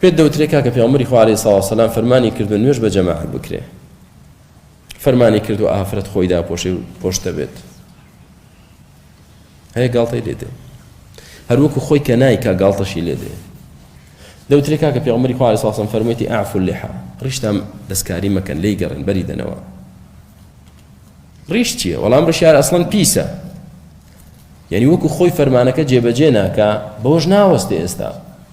پێت دەوترێ کاکە پێغەمبەری خوا عەلەیهی سڵاو سەلام فەرمانی کردو نوێژ بە جەماعەت بکرێ فەرمانی کردو ئافرەت خۆی داپۆشێ و پۆشتە بێت هەیە گاڵتەی لێدێ هەروەکو خۆی کە نایکا گاڵتەشی لێدێ دەوترێ کاکە پێغەمبەری خوا عەلەیهی سڵاو سەلام فەرموویەتی ئەعفو اللحا ڕیشتان دەستکاری مەکەن لێی گەڕێن بەری دەنەوە ڕیش چییە وەڵام ڕشیار ئەسڵەن پیسە یعنی وەکو خۆی فەرمانەکە جێبەجێ ناکە بەوەش ناوەستێ ئێستا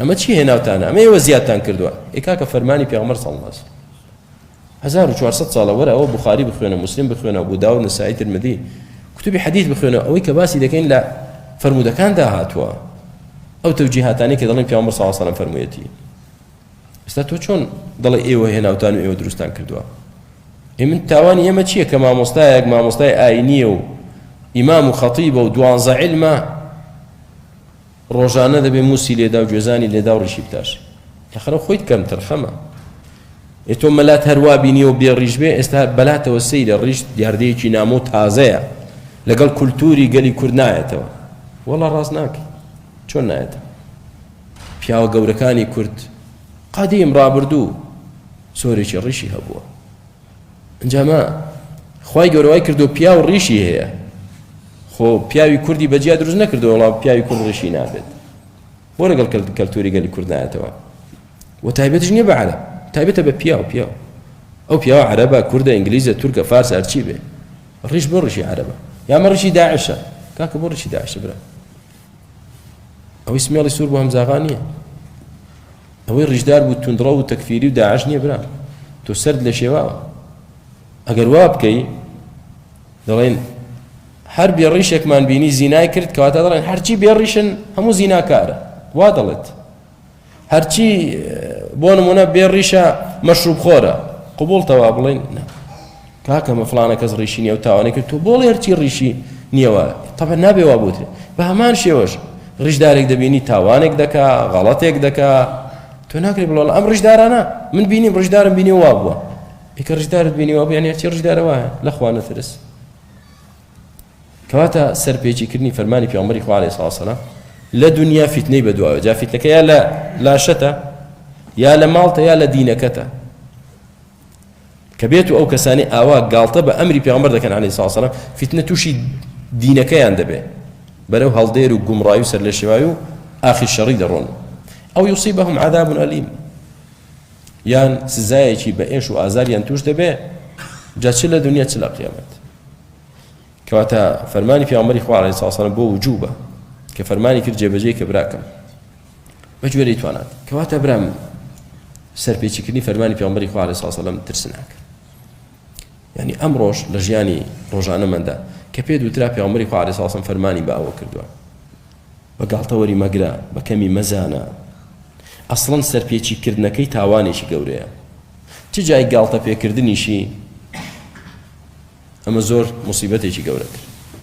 ئەمە چی هێناوتانە ئەمە ئێوە زیادتان کردوە ئێ کاکە فەرمانی پێغەمبەر صلی اللە علیە وسلم هەزار و چوار سەد ساڵە وەرە ئەوە بخاری بخوێنە مسلم بخوێنە ابو داود نسائی ترمذی کتبی حدیث بخوێنە ئەوەی کە باسی دەکەین لە فرموودەکاندا هاتووە ئەو تەوجیهاتانی کە دەڵێن پیامبەر صلی اللە علیه وسلم فەرموویەتی ئێستا تۆ چۆن دەڵێ ئێوە هێناوتان و ئێوە دروستان کردووە ئێ من تاوانی ئێمە چییە کە مامۆستایەک مامۆستای ئاینیە و ئیمام و خەتیبە و دوانزە علمە ڕۆژانە دەبێ موسی لێدا و گوێزانی لێدا و ڕیشی بتاشی لەخەرە خۆیت کەم تەرخەمە ئێ تۆ مەلات هەروا بینیە و بێ ڕیش بێ ئێستا بەلاتەوە سەیرە ڕیش دیاردەیەکی نامۆ تازەیە لەگەڵ کولتوری گەلی کورد نایەتەوە وەڵا ڕاست ناکەی چۆن نایەتە پیاوە گەورەکانی کورد قادیم ڕابردوو سۆرێکی ڕیشی هەبووە جەماع خوای گەورە وای کردو پیاو ڕیشی هەیە خۆ پیاوی کوردی بەجیا دروست نەکردو وڵا پیاوی کورد ڕیشی نابێت بۆ لەگەڵ کەلتوری گەلی کورد نایەتەوە و تایبەتش نییە بە عەرە تایبەتە بە پیاو پیاو ئەو پیاوە عەرەبە کوردە ئینگلیزە تورکە فارس هەرچی بێ ڕیش بۆ ڕیشی عەرەبە یامە ڕیشی داعشە کاکە بۆ ڕیشی داعشە برا ئەوەی سمێڵی سوور بۆ هەمزاغا نییە ئەوەی ڕیشدار بوو توندڕەو و تەکفیری و داعش نییە برام تۆ سەرت لێ شێواوە ئەگەر وا بکەی دەڵێن هەر بێ ڕیشێکمان بینی زینای کرد کەواتە دەڵێن هەرچی بێ ڕیشن هەموو زیناکارە وا دەڵێت هەرچی بۆ نمونە بێ ڕیشە مەشروب خۆرە قوبڵتەوا بڵێن کاکە من فڵانە کەس ڕیشی نییە و تاوانی کرد تۆ بۆڵێ هەرچی ڕیشی نییە وا تەبەن نابێ وا بوترێ بە هەمان شێوەش ڕیشدارێک دەبینی تاوانێک دەکا غەڵەتێک دەکا تۆ ناکرێ بڵۆڵ ئەم ڕیشدارانە من بینیم ڕیشدارم بینی وا بووە ئیکە ڕیشدارت بینی وا بوو یعنی هەرچی ڕیشدارە وایە لە خوا نەترس کەواتە سەرپێچیکردنی فەرمانی پێغەمبەری خوا عەلەیهی سڵاسەلام لە دنیا فیتنەی بەدواوە جا فیتنەکە یا لە لاشەتە یا لە ماڵتە یا لە دینەکەتە کە بێتو ئەو کەسانەی ئاوا گاڵتە بە ئەمری پێغەمبەر دەکەن عەلەیهی سڵاو سەلام فیتنە توشی دینەکەیان دەبێ بەرەو هەڵدێر و گومڕای و سەرلێشێوای و ئاخی شەڕی دەڕۆن ئەو یوسیبەهم عذاب ئەلیم یان سزایەکی بە ئێش و ئازاریان توش دەبێ جا چ لە دنیا چ لە قیامەت کەواتە فەرمانی پیامبەری خوا علیه السلام بۆ وجوبە کە فەرمانی کرد جێبەجێ کە براکەم بە گوێرەی توانات کەواتە برام من سەرپێچیکردنی فەرمانی پێغمبەری خوا علیه الصلاة والسلام ترسناک یعنی ئەمڕۆش لە ژیانی ڕۆژانەمەدا کە پێ دوترا پێغمبەری خوا علیه الصلاة والسلام فەرمانی بە ئەوە کردووە بە گاڵتەوەری مەگرە بە کەمی مەزانە ئەسڵەن سەرپێچیکردنەکەی تاوانێکی گەورەیە چ جای گاڵتە پێکردنیشی ئەمە زۆر مصیبەتێکی گەورەتر